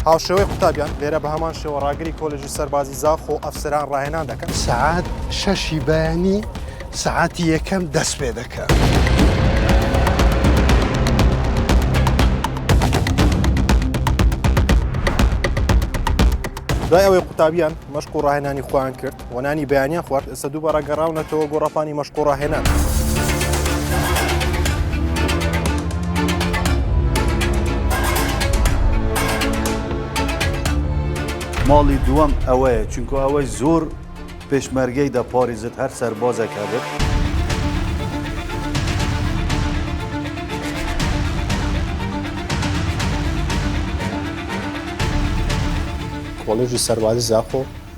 هاوشێوەی قوتابیان لێرە بە هەمان شێوە ڕاگری کۆلژی سەربازی زاخ و ئەفسران ڕاهێنان دەکەن سعات شەشی بەیانی سعاتی یەکەم دەست پێ دەکەن. دوای ئەوەی قوتابیان مەشق و ڕاهێنانی خۆیان کرد وەنانی بەیانیان خوارد ئێستا دووبارە گەڕاونەتەوە گۆڕاپانی مەشقۆڕاهێنان. ماڵی دووەم ئەوەیە چونکە ئەوەی زۆر پێشمەرگەی دە پاریزت هەر سەربازێک هەبێت. کۆلژی سەربازی زاخۆ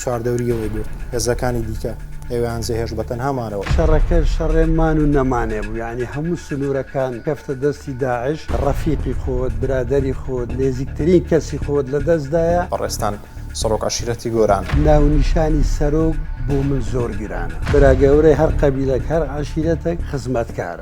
چواردەورییەوەی بێ هێزەکانی دیکە ئەوێیان جێهێشت بە تەنها مانەوە. شەڕەکە شەڕێ مان و نەمانێ بوو یانی هەموو سنوورەکان کەفتە دەستی داعش، ڕەفیقی خۆت، برادەری خۆت، نێزیکترین کەسی خۆت لە دەست دایە. بەڕێزتان سەڕۆک عەشیرەتی گۆران. ناونیشانی سەرۆک بۆ من زۆر گرانە. برا گەورەی هەر قەبیلەک هەر عەشیرەتەک خزمەتکارە.